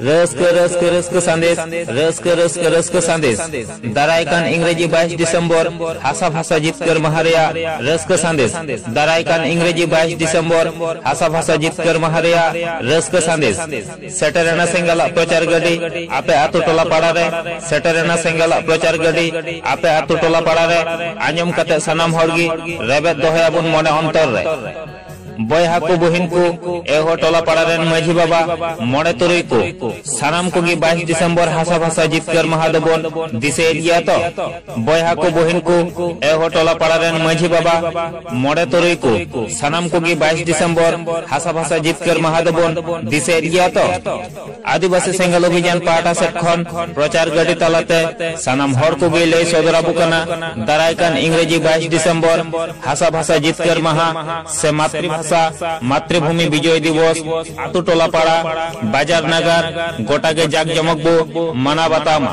ᱨᱟᱹᱥᱠᱟᱹ ᱨᱟᱹᱥᱠᱟᱹ ᱨᱟᱹᱥᱠᱟᱹ ᱥᱟᱸᱫᱮᱥ ᱨᱟᱹᱥᱠᱟᱹ ᱨᱟᱹᱥᱠᱟᱹ ᱨᱟᱹᱥᱠᱟᱹ ᱥᱟᱸᱫᱮᱥ ᱫᱟᱨᱟᱭ ᱠᱟᱱ ᱤᱝᱨᱮᱡᱤ 22 ᱰᱤᱥᱮᱢᱵᱚᱨ ᱦᱟᱥᱟ ᱵᱷᱟᱥᱟ ᱡᱤᱛᱠᱟᱹᱨ ᱢᱟᱦᱟ ᱨᱮᱭᱟᱜ ᱨᱟᱹᱥᱠᱟᱹ ᱥᱟᱸᱫᱮᱥ ᱫᱟᱨᱟᱭ ᱠᱟᱱ ᱤᱝᱨᱮᱡᱤ 22 ᱰᱤᱥᱮᱢᱵᱚᱨ ᱦᱟᱥᱟ ᱵᱷᱟᱥᱟ ᱡᱤᱛᱠᱟᱹᱨ ᱢᱟᱦᱟ ᱨᱮᱭᱟᱜ ᱨᱟᱹᱥᱠᱟᱹ ᱥᱟᱸᱫᱮᱥ ᱥᱮᱴᱮᱨᱮᱱᱟ ᱥᱮᱸᱜᱟᱞᱟᱜ ᱯᱨᱚᱪᱟᱨ ᱜᱟᱹᱰᱤ ᱟᱯᱮ ᱟᱛᱳ ᱴᱚᱞᱟ ᱯᱟᱲᱟ ᱨᱮ ᱥᱮᱴᱮᱨᱮᱱᱟ ᱥᱮᱸᱜᱟᱞᱟᱜ ᱯᱨᱚᱪᱟᱨ ᱜᱟᱹᱰᱤ ᱟᱯᱮ ᱟᱛᱳ ᱴᱚᱞᱟ ᱯᱟᱲᱟ ᱨᱮ ᱟᱸᱡᱚᱢ ᱠᱟᱛᱮ ᱥᱟᱱᱟᱢ ᱦᱚᱲ ᱜᱮ ᱨᱮᱵᱮᱫ ᱫᱚᱦᱚᱭᱟᱵᱚᱱ ᱢᱚᱱᱮ ᱚᱱᱛᱚᱨ ᱨᱮ ᱵᱚᱭᱦᱟ ᱠᱚ ᱵᱚᱦᱤᱱ ᱠᱚ ᱮᱦᱚ ᱴᱚᱞᱟ ᱯᱟᱲᱟ ᱨᱮᱱ ᱢᱟᱹᱡᱷᱤ ᱵᱟᱵᱟ ᱢᱚᱬᱮ ᱛᱩᱨᱩᱭ ᱠᱚ ᱥᱟᱱᱟᱢ ᱠᱚᱜᱮ ᱵᱟᱭᱤᱥ ᱰᱤᱥᱮᱢᱵᱚᱨ ᱦᱟᱥᱟ ᱵᱷᱟᱥᱟ ᱡᱤᱛᱠᱟᱹᱨ ᱢᱟᱦᱟ ᱫᱚᱵᱚᱱ ᱫᱤᱥᱟᱹᱭᱮᱫ ᱜᱮᱭᱟ ᱛᱚ ᱵᱚᱭᱦᱟ ᱠᱚ ᱵᱚᱦᱤᱱ ᱠᱚ ᱮᱦᱚ ᱴᱚᱞᱟ ᱯᱟᱲᱟ ᱨᱮᱱ ᱢᱟᱹᱡᱷᱤ ᱵᱟᱵᱟ ᱢᱚᱬᱮ ᱛᱩᱨᱩᱭ ᱠᱚ ᱥᱟᱱᱟᱢ ᱠᱚᱜᱮ ᱵᱟᱭᱤᱥ ᱰᱤᱥᱮᱢᱵᱚᱨ ᱦᱟᱥᱟ ᱵᱷᱟᱥᱟ ᱡᱤᱛᱠᱟᱹᱨ ᱢᱟᱦᱟ ᱫᱚᱵᱚᱱ ᱫᱤᱥᱟᱹᱭᱮᱫ ᱜᱮᱭᱟ ᱛᱚ ᱟᱹᱫᱤᱵᱟᱹᱥᱤ ᱥᱮᱸᱜᱮᱞ ᱚᱵᱷᱤᱡᱟᱱ ᱯᱟᱦᱴᱟ ᱥᱮᱫ ᱠᱷᱚᱱ ᱯᱨᱚᱪᱟᱨ ᱜᱟᱹᱰᱤ ᱛᱟᱞᱟᱛᱮ ᱥᱟᱱᱟᱢ ᱦᱚᱲ ᱠᱚᱜᱮ ᱞᱟᱹᱭ ᱥᱚᱫᱚᱨ ᱟᱵᱚ ᱠᱟᱱᱟ ᱫᱟᱨᱟᱭ ᱠᱟᱱ ᱤᱝᱨᱮᱡᱤ ᱵᱟᱭᱤᱥ ᱰᱤᱥᱮᱢᱵᱚᱨ ᱦᱟᱥᱟ ᱵᱷᱟᱥᱟ ᱡᱤᱛᱠᱟᱹᱨ ᱢᱟᱦᱟ ᱥᱮ ᱢᱟᱛᱨᱤᱵᱷᱟᱥᱟ ᱢᱟᱛᱨᱤᱵᱷᱩᱢᱤ ᱵᱤᱡᱚᱭ ᱫᱤᱵᱚᱥ ᱟᱛᱳ ᱴᱚᱞᱟ ᱯᱟᱲᱟ ᱵᱟᱡᱟᱨ ᱱᱟᱜᱟᱨ ᱜᱚᱴᱟ ᱜᱮ ᱡᱟᱠ ᱡᱚᱢᱚᱠ ᱵᱚ ᱢᱟᱱᱟᱣ ᱵᱟᱛᱟᱣ ᱢᱟ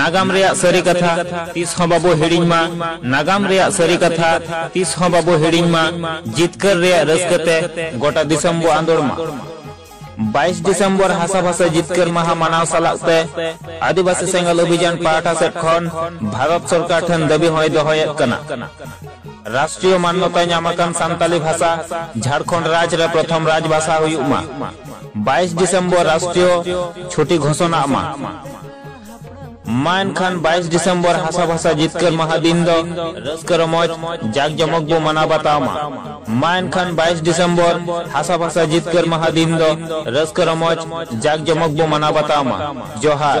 ᱱᱟᱜᱟᱢ ᱨᱮᱭᱟᱜ ᱥᱟᱹᱨᱤ ᱠᱟᱛᱷᱟ ᱛᱤᱥ ᱦᱚᱸ ᱵᱟᱵᱚ ᱦᱤᱲᱤᱧ ᱢᱟ ᱱᱟᱜᱟᱢ ᱨᱮᱭᱟᱜ ᱥᱟᱹᱨᱤ ᱠᱟᱛᱷᱟ ᱛᱤᱥ ᱦᱚᱸ ᱵᱟᱵᱚ ᱦᱤᱲᱤᱧ ᱢᱟ ᱡᱤᱛᱠᱟᱹᱨ ᱨᱮᱭᱟᱜ ᱨᱟᱹᱥᱠᱟᱹ ᱛᱮ ᱜᱚᱴᱟ ᱫᱤᱥᱚᱢ ᱵᱚ ᱟᱸᱫᱳᱲ ᱢᱟ 22 ᱰᱤᱥᱮᱢᱵᱚᱨ ᱦᱟᱥᱟ ᱵᱷᱟᱥᱟ ᱡᱤᱛᱠᱟᱹᱨ ᱢᱟᱦᱟ ᱢᱟᱱᱟᱣ ᱥᱟᱞᱟᱜ ᱛᱮ ᱟᱹᱫᱤᱵᱟᱹᱥᱤ ᱥᱮᱸᱜᱮᱞ ᱚᱵᱷᱤᱡᱟᱱ ᱯᱟᱦᱴᱟ ᱥᱮᱫ ᱠᱷᱚᱱ ᱵᱷᱟᱨᱚᱛ ᱥᱚᱨᱠᱟᱨ ᱴᱷᱮᱱ ᱫᱟᱹᱵᱤ ᱦᱚᱸᱭ ᱫᱚᱦᱚᱭᱮᱫ ᱠᱟᱱᱟ ᱨᱟᱥᱴᱨᱤᱭᱚ ᱢᱟᱱᱱᱚᱛᱟ ᱧᱟᱢ ᱟᱠᱟᱱ ᱥᱟᱱᱛᱟᱞᱤ ᱵᱷᱟᱥᱟ ᱡᱷᱟᱲᱠᱷᱚᱸᱰ ᱨᱟᱡᱽ ᱨᱮ ᱯᱨᱚᱛᱷᱚᱢ ᱨᱟᱡᱽ ᱵᱷᱟᱥᱟ ᱦᱩᱭᱩᱜ ᱢᱟ 22 ᱰᱤᱥᱮᱢᱵᱚᱨ ᱨᱟᱥᱴᱨᱤᱭᱚ ᱪᱷᱩᱴᱤ ᱜᱷᱳᱥᱚᱱᱟ ᱢᱟ ᱢᱟᱱ ᱠᱷᱟᱱ ᱵᱟᱭᱤᱥ ᱰᱤᱥᱮᱢᱵᱚᱨ ᱦᱟᱥᱟ ᱵᱷᱟᱥᱟ ᱡᱤᱛᱠᱟᱹᱨ ᱢᱟᱦᱟ ᱫᱤᱱ ᱫᱚ ᱨᱟᱹᱥᱠᱟᱹ ᱨᱚᱢᱚᱡᱽ ᱡᱟᱠ ᱡᱚᱢᱚᱠ ᱵᱚ ᱢᱟᱱᱟᱣ ᱵᱟᱛᱟᱣ ᱢᱟ ᱢᱟᱱ ᱠᱷᱟᱱ ᱵᱟᱭᱤᱥ ᱰᱤᱥᱮᱢᱵᱚᱨ ᱦᱟᱥᱟ ᱵᱷᱟᱥᱟ ᱡᱤᱛᱠᱟᱹᱨ ᱢᱟᱦᱟ ᱫᱤᱱ ᱫᱚ ᱨᱟᱹᱥᱠᱟᱹ ᱨᱚᱢᱚᱡᱽ ᱡᱟᱠ ᱡᱚᱢᱚᱠ ᱵᱚ ᱢᱟᱱᱟᱣ ᱵᱟᱛᱟᱣ ᱢᱟ ᱡᱚᱦᱟᱨ